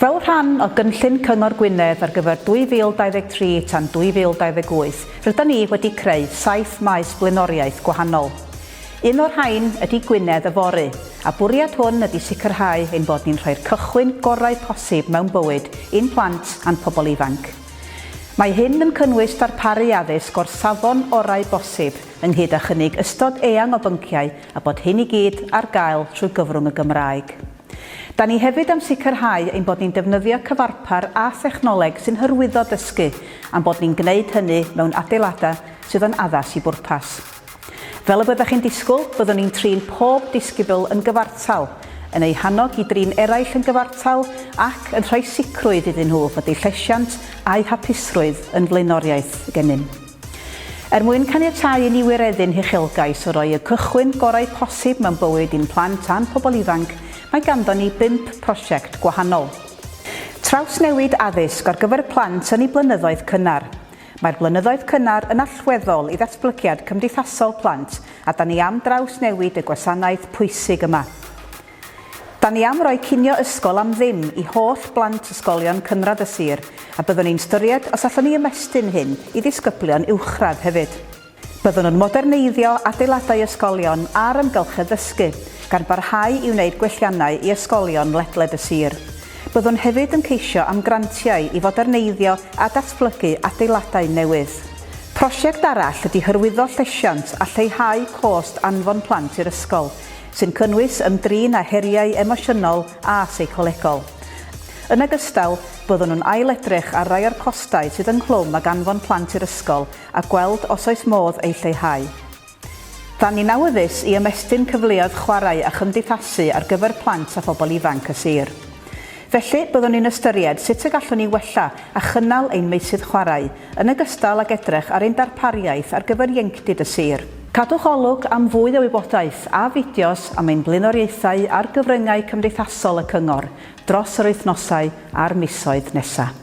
Fel rhan o gynllun Cyngor Gwynedd ar gyfer 2023 tan 2028, rydan ni wedi creu saith maes blaenoriaeth gwahanol. Un o'r rhain ydy Gwynedd Yfory, a bwriad hwn ydy sicrhau ein bod ni'n rhoi'r cychwyn gorau posib mewn bywyd i'n plant a'n pobl ifanc. Mae hyn yn cynnwys darparu addysg o'r safon orau bosib ynghyd â chynnig ystod eang o bynciau a bod hyn i gyd ar gael trwy gyfrwng y Gymraeg. Da ni hefyd am sicrhau ein bod ni'n defnyddio cyfarpar a thechnoleg sy'n hyrwyddo dysgu a'n bod ni'n gwneud hynny mewn adeiladau sydd yn addas i bwrpas. Fel y byddech chi'n disgwyl, byddwn ni'n trin pob disgybl yn gyfartal, yn eu hannog i drin eraill yn gyfartal ac yn rhoi sicrwydd iddyn nhw fod eu llesiant a'u hapusrwydd yn flaenoriaeth gennym. Er mwyn caniatáu i ni wireddu'n huchelgais o roi y cychwyn gorau posib mewn bywyd i'n plant a'n pobl ifanc, mae ganddon ni bump prosiect gwahanol. Trawsnewid addysg ar gyfer plant yn eu blynyddoedd cynnar. Mae'r blynyddoedd cynnar yn allweddol i ddatblygiad cymdeithasol plant a 'dan ni am drawsnewid y gwasanaeth pwysig yma. Da ni am roi cinio ysgol am ddim i holl blant ysgolion cynradd y sir a byddwn ni'n styried os allwn ni ymestyn hyn i ddisgyblion uwchradd hefyd. Byddwn yn moderneiddio adeiladau ysgolion a'r amgylchedd ddysgu, gan barhau i wneud gwelliannau i ysgolion ledled y sir. Byddwn hefyd yn ceisio am grantiau i foderneiddio a datblygu adeiladau newydd. Prosiect arall ydy hyrwyddo llesiant a lleihau cost anfon plant i'r ysgol, sy'n cynnwys ymdrin â heriau emosiynol a seicolegol. Yn ogystal, byddwn yn ail-edrych ar rai o'r costau sydd ynghlwm ag anfon plant i'r ysgol a gweld os oes modd eu lleihau. Da ni'n awyddus i ymestyn cyfleoedd chwarae a chymdeithasu ar gyfer plant a phobl ifanc y sir. Felly, byddwn ni'n ystyried sut y gallwn ni wella a chynnal ein meysydd chwarae, yn ogystal ag edrych ar ein darpariaeth ar gyfer ieuenctid y sir. Cadwch olwg am fwy o wybodaeth a fideos am ein blaenoriaethau ar gyfryngau cymdeithasol y Cyngor dros yr wythnosau a'r misoedd nesaf.